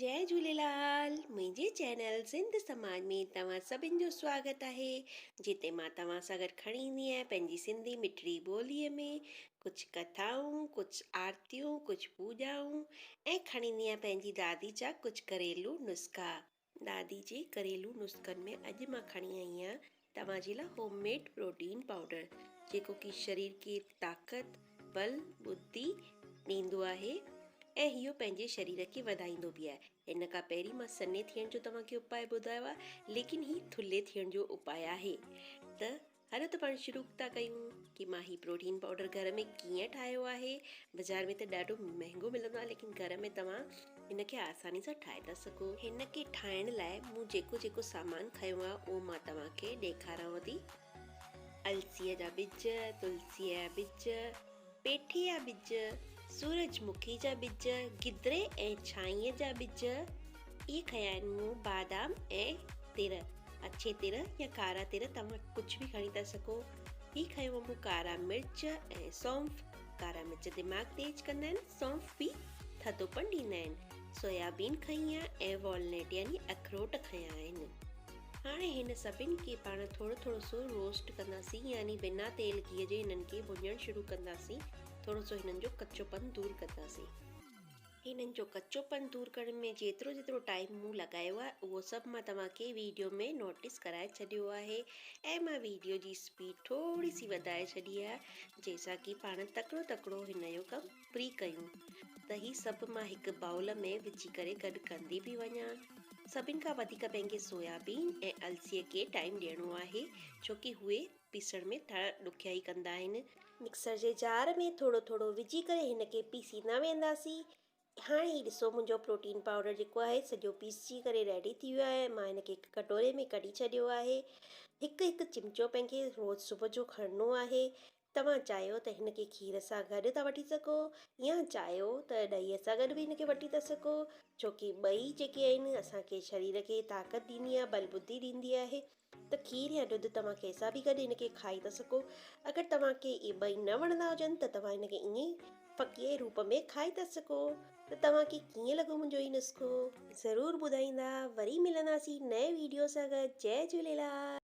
جئي جهوليلال منهنجي چينل سنڌ سماج ۾ توهان سڀن جو سواگت آهي جتي مان توهان سان گڏ کڻي ايندي آهيان پنهنجي سنڌي مٺڙي ٻولي ۾ ڪجهه ڪٿائون ڪجهه آرتيون ڪجهه پوڄائون ۽ کڻي ايندي آهيان پنهنجي دادي جا ڪجهه گهريلو نسخا دادي جي گهريلو نسخن ۾ اڄ مان کڻي آئي آهيان توهان جي لاء هوم ميڊ پروٽين پائوڊر جيڪو ڪي شرير کي طاقت بل بدي ڏيندو آهي ۽ هيو پنهنجي شرير کي وڌائيندو به آهي هن کان پهرين مان سنهي ٿيڻ جو توهان کي اپاء ٻڌايو آهي ليڪن هي ٿلهي ٿيڻ جو اپاء آهي ته هلو ته پاڻ شروع ٿا ڪيون ڪي مان هي پروٽين پاؤڊر گهر ۾ ڪيئن ٺاهيو آهي بازار ۾ ته ڏاڍو مهنگو ملندو آهي ليڪن گهر ۾ توهان هن کي آساني سان ٺاهي ٿا سگهو هن کي ٺاهڻ لاء مون جيڪو جيڪو سامان کنيو آهي اهو مان توهان کي ڏيکارانو ٿي السيء جا ٻج تلسيء جا ٻج پيٺي جا ٻج، سورج مکي جا ٻج، گدري ۽ ڇانيء جا ٻج، اهي کنيا آهن مون، بادام ۽ تر، اڇي تر يا ڪارا تر توهان ڪجهه به کڻي ٿا سگهو، هي کنيو مون ڪارا مرچ ۽ سونف، ڪارا مرچ دماغ تيز ڪندا آهن، سونف به ٿڌوپڻ ڏيندا آهن، سويابين کنئي آهي ۽ والنيٽ يعني اخروٽ کنيا آهن. هاڻي هن سڀن کي پاڻ ٿورو ٿورو سو روسٽ ڪنداسين يعني بنا تيل گيهه جي هنن کي ڀڃڻ شروع ڪنداسين ٿورو سو هنن جو ڪچو پن دور ڪنداسين. هنن جو ڪچو پن دور ڪرڻ ۾ جيترو جيترو ٽائيم مون لڳايو آهي اهو سڀ مان توهان کي ويڊيو ۾ نوٽس ڪرائي ڇڏيو آهي ۽ مان ويڊيو جي اسپيڊ ٿوري سي وڌائي ڇڏي آهي جنهن سان ڪي پاڻ تڪڙو تڪڙو هن جو ڪم پري ڪيون ته هي سڀ مان هڪ بائول ۾ وجهي ڪري گڏ ڪندي به وڃان. سڀن کان وڌيڪ پنهنجي سويابين ۽ السيء کي ٽائيم ڏيڻو آهي ڇوڪي اهي پيسڻ ۾ ٿورا ڏکيائي ڪندا آهن. مڪسر جي جار ۾ ٿورو ٿورو وجهي ڪري هن کي پيسيندا وينداسين. هاڻي هي ڏسو منهنجو پروٽين پائوڊر جيڪو آهي سڄو پيسجي ڪري ريڊي ٿي ويو آهي. مان هن کي هڪ ڪٽوري ۾ ڪڍي ڇڏيو آهي. هڪ هڪ چمچو پنهنکي روز صبح جو کڻڻو آهي. توهان چاهيو ته هن کي کير سان گڏ ٿا وٺي سگهو يا چاهيو ته ڏهيء سان گڏ به هن کي وٺي ٿا سگهو ڇو ڪي ٻئي جيڪي آهن اسان کي شرير کي طاقت ڏيندي آهي بل بدي ڏيندي آهي ته کير يا ڏڌ توهان ڪنهن سان به گڏ هن کي کائي ٿا سگهو اگر توهان کي اهي ٻئي نه وڻندا هجن ته توهان هن کي ائين ئي فقيعي روپ ۾ کائي ٿا سگهو ته توهان کي ڪيئن لڳو منهنجو هي نسخو ضرور ٻڌائيندا وري ملنداسين نئين ويڊيو سان گڏ جي جهوليلال